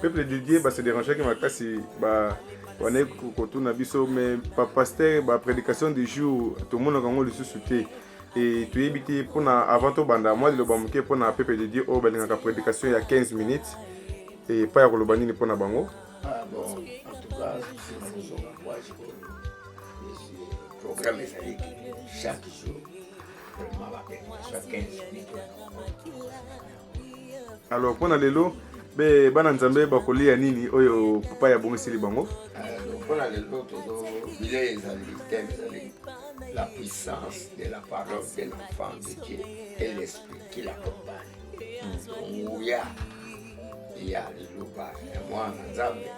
peuple de dieu base dérangeaki makasi ba wana kotuna biso mais bapaster baprédication du jour tomonaka yango lisusu te e toyebi te mpona avant tobanda mwa liloba moke mpona peuple de dieu oyo balingaka prédication ya 15 minutes epai ya koloba nini mpona bango ah, programme ezalaki chaque jour alors mpo na lelo be bana nzambe bakolia nini oyo papa ya bongiseli bango mpo na lelo tozo bilei ezali teme ezali la puissance de la parole de l'enfant de dieu et l'esprit qui l'accompagne nguya ya liloba ya mwana nzambe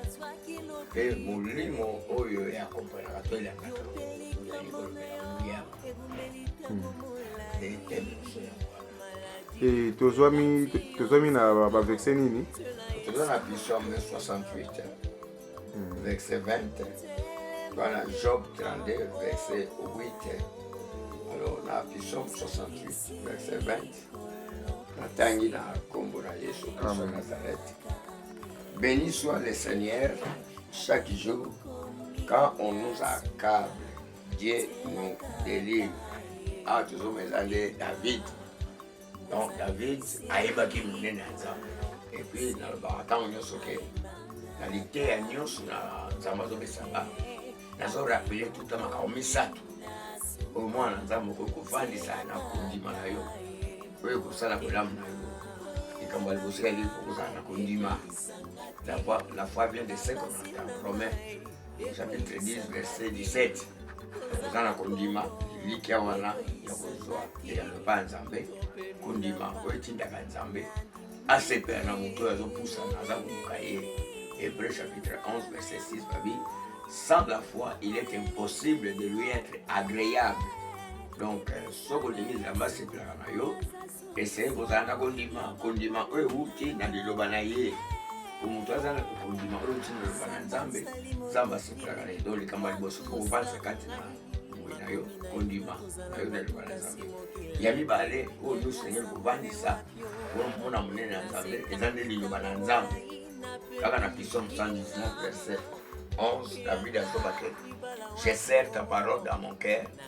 mpe molimo oyo ya akompanaka to elakaka yango Eh, tozwami tozwami na baverse nini toza na psaume 68 verse 20 wana job 32 verse 8 alors na psaume 68 verse 20 natangi na nkombo na yesu kristo nazareth béni soit le seigneur chaque jour quand on nous accable Dieu nous délivre. Ah, toujours mes années, David. Donc, David, ayebaki monene ya Nzambe. Et puis, nalobaka ntango nyonso ke na liteya nyonso na Nzambe azopesa nga nazorapele tuta makambo misato oyo mwana Nzambe okoki kofandisa na kondima na yo oyo ekosala bolamu na yo likambo ya liboso yali kozala na kondima la foi vient de ce qu'on entend promet chapitre 10 verset 17 oza na kondima elikya wana ya kozwa eyano epa ya nzambe kondima oyo etindaka nzambe asepela na moto oyo azopusana aza koluka ye hébreu chapitre 11 verset 6 babi sans la foi il est impossible de lui être agréable donc euh, soki olingi nzambe asepelaka na yo Esengeli kozala na kondima, kondima oyo euti na liloba na ye. Po moto aza na kondima oyo euti na liloba na Nzambe, Nzambe asepelaka na ye. Donc likambo ya liboso kokobanisa kati na boye na yo kondima na yo na liloba na Nzambe. Ya mibale oyo nyonso esengeli kobandisa mona monene ya Nzambe eza nde liloba na Nzambe. Kaka na Psaume 119 verset 11 David asobaki je serre ta parole dans mon cœur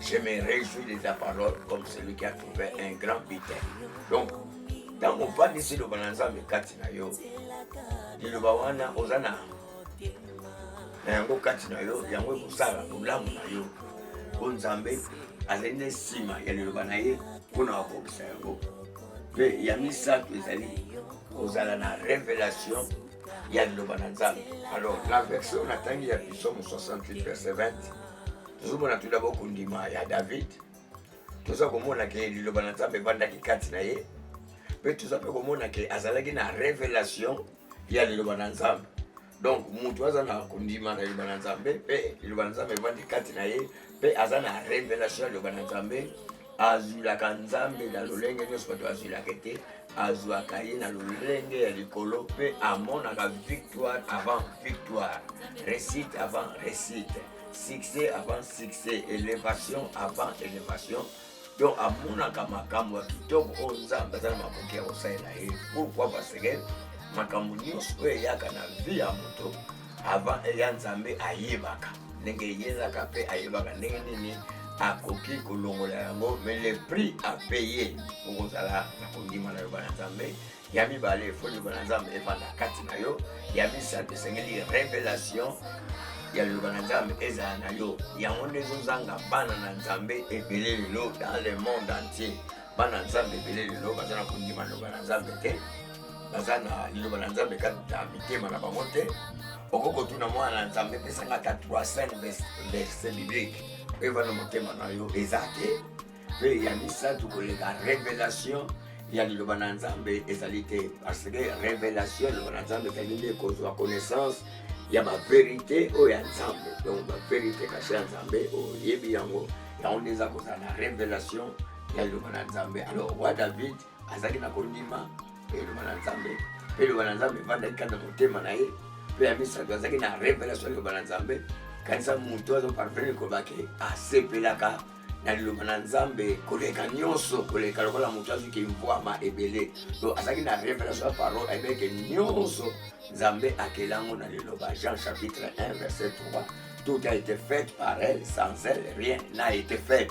Je me réjouis de ta parole comme celui qui a trouvé un grand butin. Donc, ntango ofandisi liloba na nzambe kati na yo liloba wana oza na na yango kati na yo yango ekosala bolamu na yo mpo nzambe azali na nsima ya liloba na ye mpo na kokokisa yango mpe ya misato ezali kozala na revelation ya liloba na nzambe alors na verse oyo natangi ya bisomo 68 verse 20 tozomona tout dabord kondima ya david toza komona ke liloba na nzambe evandaki kati na ye mpe toza mpe komona ke azalaki na revelation ya liloba na nzambe donc moto aza na kondima na liloba na nzambe mpe liloba na nzambe evandi kati na ye mpe aza na revelation ya liloba na nzambe azwilaka nzambe na lolenge nyonso bato azwilaka te azwaka ye na lolenge ya likolo mpe amonaka victoire avant victoire réussite avant réussite succès avant succès élévation avant élévation donc amonaka makambo ya kitoko oyo oh, nzambe aza na makoki ya kosalela ye pourkui parce que makambo nyonso oyo eyaka na vie ya moto Avant ya Nzambe ayebaka ndenge eyelaka mpe ayebaka ndenge nini akoki kolongola yango me le prix a paye okozala na kondima na yoba na nzambe ya mibale fo liloba na nzambe efanda kati na yo ya misato esengeli revelation ya liloba na nzambe ezala na yo yango nde ezozanga bana na nzambe ebele lelo dans le monde entier bana nzambe ebele lelo baza na kondima liloba na nzambe te baza na liloba na nzambe kati na mitema na bango te okoki kotuna mwana na nzambe epesanga ata 300 verse biblique oyo eva na motema na yo eza te mpe ya misato koleka revelation ya liloba na nzambe ezali te parce que revelation ya liloba na nzambe ezali nde kozwa connaissance ya baverité oyo ya nzambe donc baverité kashe ya nzambe oyebi yango yango nde eza kozala na revelation ya liloba na nzambe alors roi david azalaki na kondima mpe liloba na nzambe mpe liloba na nzambe evandaki kati na motema na ye mpe ya misato azalaki na revelation ya liloba na nzambe kanisa moto azoparvene kobaki asepelaka na liloba na nzambe koleka nyonso koleka lokola moto azwi kimvwama ebele to azalaki na revelation ya parole ayebeke nyonso nzambe akela yango na liloba jean chapitre 1 verset 3 tout a été fait par elle sans elle rien n'a été fait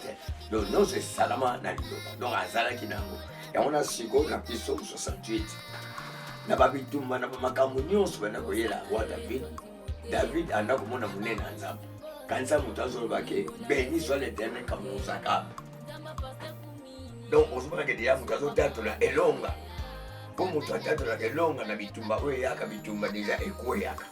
donc nyonso esalama na liloba donc azalaki na yango yango na sikoyo na biso 68 na babitumba na bamakambo nyonso banda koyela roi david david anda komona monene ya nzambe kanisa moto azoloba ke beni soit l'éternel kamonozaka donc ozomona ke deya moto azotatola elonga mpo moto atatolaka elonga na bitumba oyo eyaka bitumba deja ekweyaka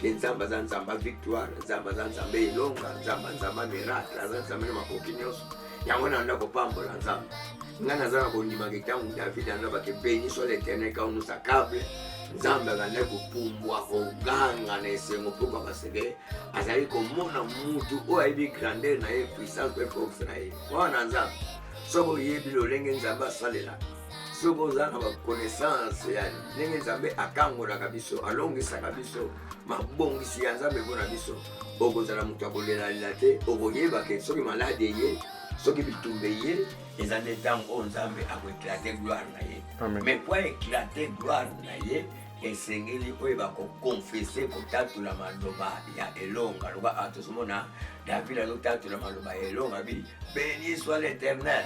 Ke Nzambe aza Nzambe victoire, Nzambe aza Nzambe elonga, Nzambe Nzambe miracle, aza Nzambe na makoki nyonso. Yango na ndako pambola Nzambe. Nga naza na kondimaka ntango David alobaki beni soit l'Éternel quand nous accable nzambe azalaki kopumbwa koganga na esengo mpo papa seke azali komona mutu oyo ayebi grandeur na ye puissance mpe force na ye wana nzambe soki oyebi lolenge nzambe asalelaka soki oza na bakonaissance ya ndenge nzambe akangolaka biso alongisaka biso mabongisi ya nzambe mpo na biso okozala moto ya kolelalela te okoyeba ke soki maladi eye soki bitumba eye eza nde ntango oyo nzambe akoeklate gloire na ye mais mpo aeklate gloire na ye esengeli oyeba kokonfese kotatula maloba ya elonga loba atozomona david azotatula maloba ya elonga bi beni soit l'éternel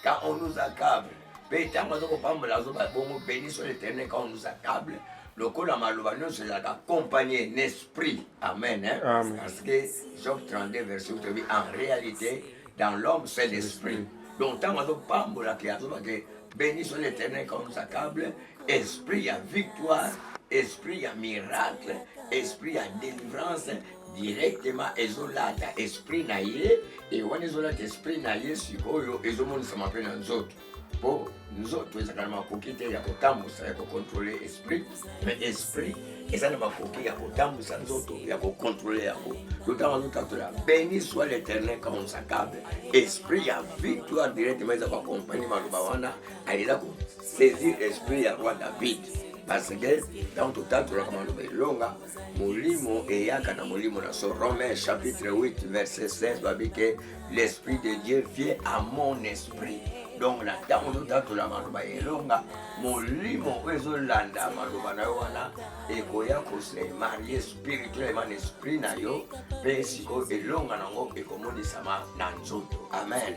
quand on nous accable mpe ntango aza kopambola azoba bongo beni sur l'éternel quand on nous accable lokola maloba nyonso ezalaka accompagné n'esprit amen hein? Amen. parce que job 32 verset toyebi en réalité dans l'homme c'est l'esprit donc ntango azopambola ke azoba ke beni sur l'éternel quand on nous accable esprit ya victoire esprit ya miracle esprit ya délivrance directement ezolata esprit na ye e wana ezolata esprit na ye sikoyo ezomonisama mpe na nzoto mpo nzoto ezalaka na makoki te ya kotambusa ya kokontrole esprit me esprit eza na makoki ya kotambusa nzoto ya kokontrole yango lotanga lotatola beni soi l'éternel consacable esprit ya victoire directement eza koakompagne maloba wana alela kosaisir esprit ya roi david parce que ntango totatolaka maloba elonga molimo eyaka na molimo na so romain chapitre 8 verset 16 babi ke l'esprit de dieu vie à mon esprit donc na ntango ozotatola maloba ya elonga molimo oyo ezolanda maloba na yo wana ekoya kose marie spirituellement na esprit na yo mpe sikoyo elonga na yango ekomonisama na nzoto amen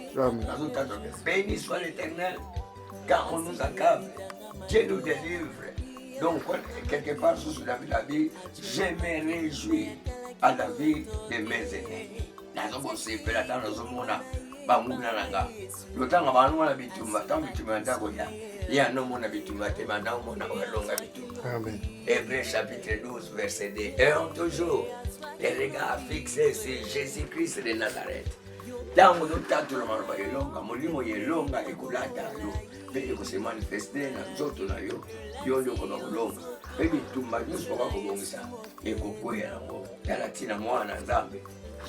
nazotatola beni soit l'éternel car on nous accable. Dieu nous délivre. Donc, quelque part, sous la vie, je me réjouis à la vie de mes aînés. nazokosepela ntango nazomona banguna na nga lotanga bango wana bitumba ntango bitumba ya ndako ya ye anomona bitumba te banda omona oyo alonga bitumba hébreu chapitre 12 verset 2 ayant toujours les regards fixés sur jésus christ de nazareth Ntango ozotatula maloba ya elonga, molimo ya elonga ekolata yo mpe ekosemanifeste na nzoto na yo, yo nde okoba kolonga mpe bitumba nyonso okoba kobongisa ekokweya yango. Tala ntina mwana na Nzambe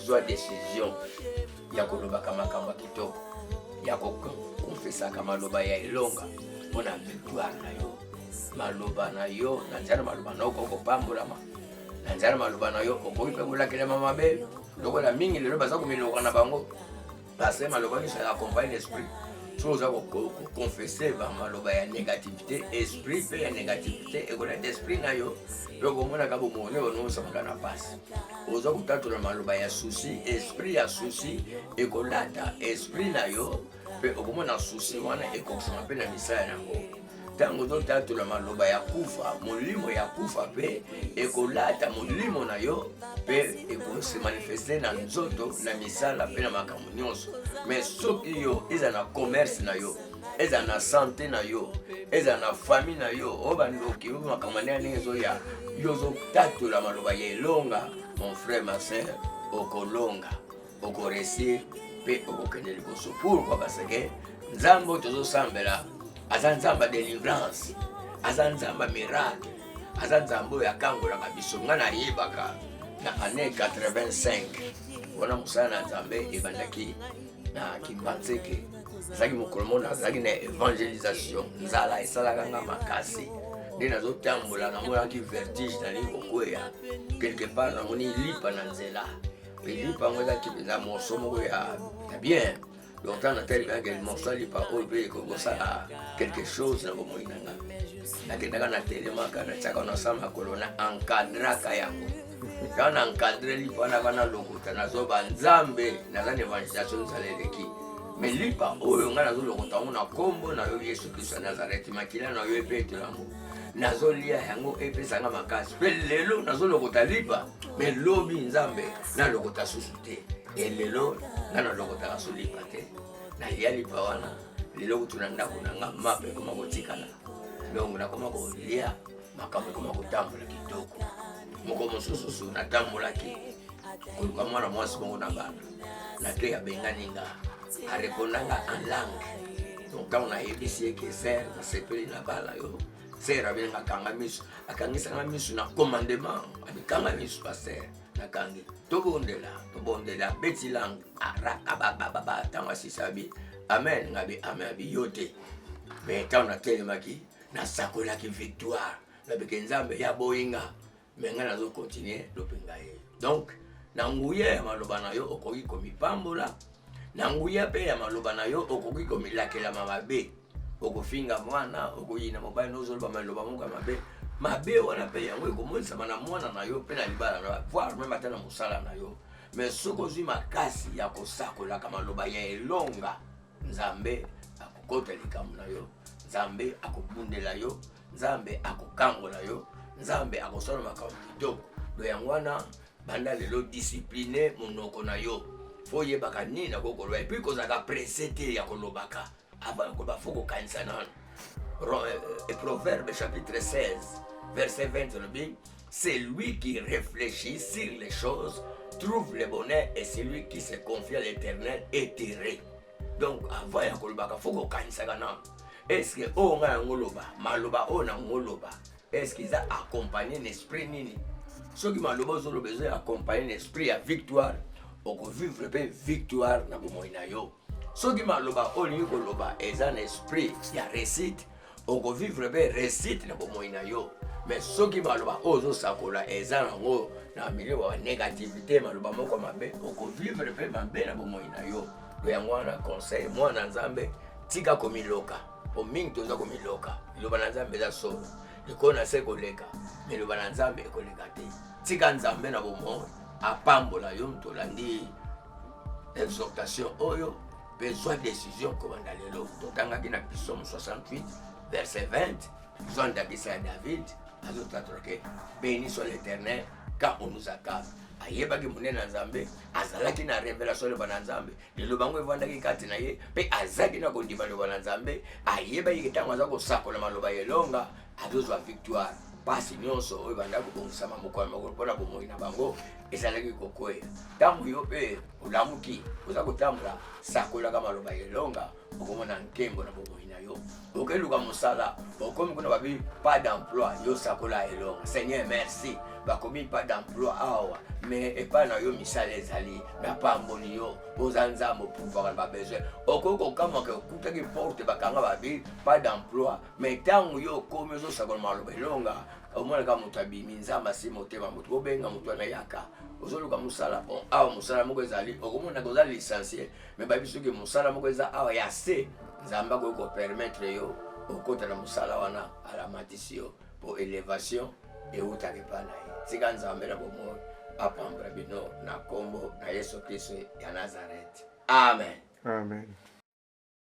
zwa desizio ya kolobaka makambo ya kitoko, ya kokonfesaka maloba ya elonga mpo na victoire na yo. Maloba na yo na nzela na maloba na yo okoki kopambolama, na nzela na maloba na yo okoki mpe kolakelama mabe. lokola mingi lelo baza komiloka na bango pasteur maloba nyonso ya accompagne l'esprit soki oza koconfese bamaloba ya négativité esprit mpe ya négativité ekoleta esprit na yo mpe okomonaka bomoi nde onosamaka na mpasi oza kotatola maloba ya souci esprit ya souci ekolata esprit na yo mpe okomona susi wana ekokisama mpe na misala yango ntango totatola maloba ya kufa molimo ya kufa mpe ekolata molimo na yo mpe ekosemanifeste na nzoto na misala mpe na makambo nyonso me soki yo eza na commerce na yo eza na sante na yo eza na fami na yo oyo bandoki oyo makambo ndenge ndenge ezoya yo ozotatola maloba ya elonga mon frère ma sœur okolonga oko réussir pe oko kende liboso pourquoi parce que nzambe oyo tozosambela aza nzambe ya délivrance aza nzambe ya miracle aza nzambe oyo akangolaka biso ngai nayebaka na année 85 wana mosala na nzambe ebandaki na kimbanzeke ezalaki mokolo mona azalaki na évangélisation nzala esalaka nga makasi nde nazotambola namonaki vertige nali kokweya quelque part namoni lipa na nzela lipa yango ezalaki mpenza morso moko ya bien donc ntango natalelaka morso ya lipa oyo mpe ekokosala quelque chose na bomoi na nga nakendaka na telemaka natiaka na sa makolo na encadraka yango ntango na encadre lipa wana bana lokuta nazoba nzambe naza na evangelisation nsala eleki me lipa oyo ngai nazolokota yango na nkombo na yo yesu kristo ya nazareti makila na yo ebetela yango nazolia yango epesa nga makasi mpe lelo nazolokota lipa me lobi nzambe nalokota susu te e lelo nga nalokotaka su lipa te nalia lipa wana lelo kutu na ndako na nga mape ekoma kotikala donc nakoma kolia makambo ekoma kotambola kitoko moko mosusu su natambolaki koluka mwana mwasi moko na bana Latoya abengani nga areponda nga en langue donc ntango nayebisi ye ke ser nasepeli na bala yo ser abenga akanga misu akangisanga misu na commandement amikanga misu paster nakangi tobondela tobondela abeti langue arakabababa ntango asisi abi amen ngabi amen abi yo te me ntango natelemaki nasakolaki victoire nabike nzambe ya boyinga me ngai nazo continue lope ngai donc na nguya ya maloba na yo okoki komipambola na nguya mpe ya maloba na yo okoki komilakelama mabe okofinga mwana okoyina mobali nozoloba maloba moko ya mabe mabe wana mpe yango ekomonisama na mwana na yo mpe na libala na voir meme ata na mosala na yo mais soki ozwi makasi ya kosakolaka maloba ya elonga nzambe akokota likambo na yo nzambe akobundela yo nzambe akokangola yo nzambe akosala makambo kitoko do yango wana banda lelo discipline monoko na yo fo oyebaka nini nakoki koloba epui kozalaka presse te ya kolobaka avant koloba fo kokanisa nano euh, euh, proverbe chapitre 16 verset 20 olobi Celui qui réfléchit sur les choses trouve le bonheur et celui qui se confie à l'éternel est heureux. Donc avant ya kolobaka fo kokanisaka nano eske oyo oh, ngai yango loba maloba oyo oh, nango loba eske eza accompagne na esprit nini soki maloba ozoloba ezo accompagne na esprit ya victoire okovivre mpe victoire na bomoi na yo soki maloba oyo olingi koloba eza na esprit ya resite okovivre mpe resite na bomoi na yo me soki maloba oyo ozosakola eza yango na milio ya negativité maloba moko mabe okovivre mpe mabe na bomoi na yo to yango wana conseil mwana nzambe tika komiloka po mingi toza komiloka liloba na nzambe eza solo likolo na se koleka me liloba na nzambe ekoleka te tika nzambe na bomoi apambola yo moto olandi exhortation oyo mpe zwa desizio kobanda lelo totangaki na psaume 68 verset 20 zwa ndakisa ya david azotatola ke beni soit l'éternel quand on nous accable ayebaki monene ya nzambe azalaki na revelation loba na nzambe liloba yango efandaki kati na ye mpe azalaki na kondima loba na nzambe ayebaki ntango aza kosakola maloba ya elonga azozwa victoire mpasi nyonso oyo bandaki kobongisama mokolo mokolo mpo na bomoi na bango ezalaki kokwea. Ntango yo mpe olamuki oza kotambola, sakolaka maloba ya elonga, okomona nkembo na bomoi na yo. Okeluka mosala, okomi kuna babi pas d'emploi, yo sakola elonga. Seigneur, merci bakomi pas d'emploi awa me epai na yo misala ezali napamboli yo oza nzambe opuvaka na babesoin okoki kokamwaka okutaki porte bakanga babi pas d'emploi me ntango yo okomi ozosakola maloba elonga omonaka moto abimi nzambe asi motema moto bobenga moto wana yaka ozoluka mosala po awa mosala moko ezali okomonaka oza licencie me bayebi soki mosala moko eza awa ya se nzambe akoki kopermettre yo okota na mosala wana alamatisi yo po elevation eutaka epai na ye tika nzambe na bomoi apambra bino na nkombo na yesu kristo ya nazarete amen amen